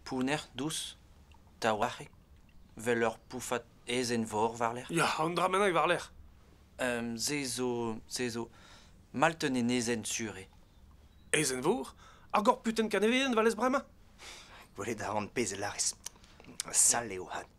Pounner dous, taouarc'hek, 'vel ur poufad aezhenn-vor war-lerc'h. Ya, an dra bennak war-lerc'h. se zo, se zo, malten enezenn sur eo. Aezhenn-vor? Ar gorputen kanevien 'valez bremañ? Gwelet a ran pezh a lârez. Sall eo hat.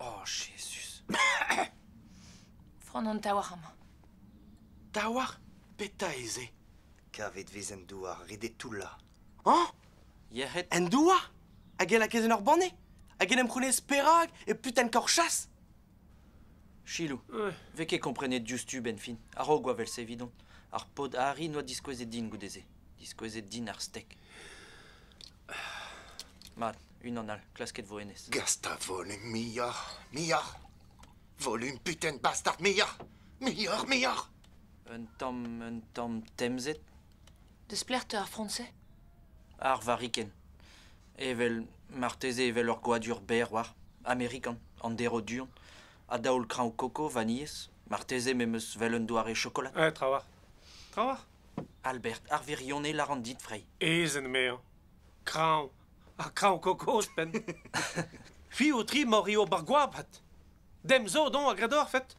Oh, Jezuz! Frond an taouarc'h amañ. Taouarc'h? Petra eo se? Kavet vez en douar, ret eo toullañ. Hañ? Yec'hed? En douar? Hag e lakez en ur banne? Hag en em c'hounez perak e putenn korchas? Chilou, vez ket komprenet diouzhtu benn-fin. A-raok oa vel-se evidon. Ar paotr Harry n'oa diskouezet din goude-se. Diskouezet din ar stek. Mat, Unan all, klasket 'vo hennezh. Gast a volume muioc'h, muioc'h. Volume putain bastard muioc'h, muioc'h, muioc'h. Un tamm, un tamm temzet. Desplec'h 'teu ar fransez Ar varikenn. Evel, marteze evel ur gwadur berr war. Amerikan, an derv du-hont. A daol kraoñ koko, vanilhez. Marteze me 'm eus 'vel un doare chokolad. Eh, trawalc'h. Trawalc'h. Albert, ar wirionez 'laran dit, Frey. Ezen 'mezañ. Kraoñ, Ha kraoñ kozh-penn. Fiv-tri ma rio bar goabad. Dem zo don a gredorfet.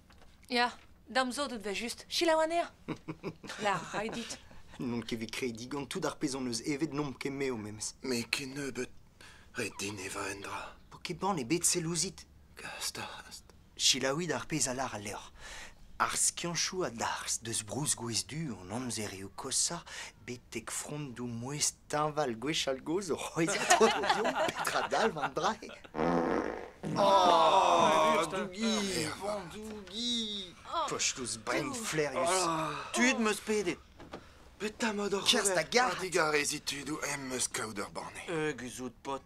Ya, dam zo deut va just. Selaou anezhañ. La ray dit. N'on ket bet krediñ gant tout ar pezh hon eus evet n'omp ket me o memes. Me kennebeut. Ret din evañ un dra. Po ket bann ebet sell ouzhit. Gast, gast. Selaouit ar pezh a lâr al levr. Ar skiantoù a-darzh deus brousgwez du hon amzerioù koshañ betek frondoù mouezh teñval gwechall-gozh o c'hwezhañ tornioù petra dalv an dra-se. Oh, Dougi, Vandougi, kochlouz brenn-flaerius. Tud 'm eus pedet. Petra 'mod oc'h Kerzh da ober? garg. A-digarezit tudoù em eus kaout ur banne. Eus out paotr.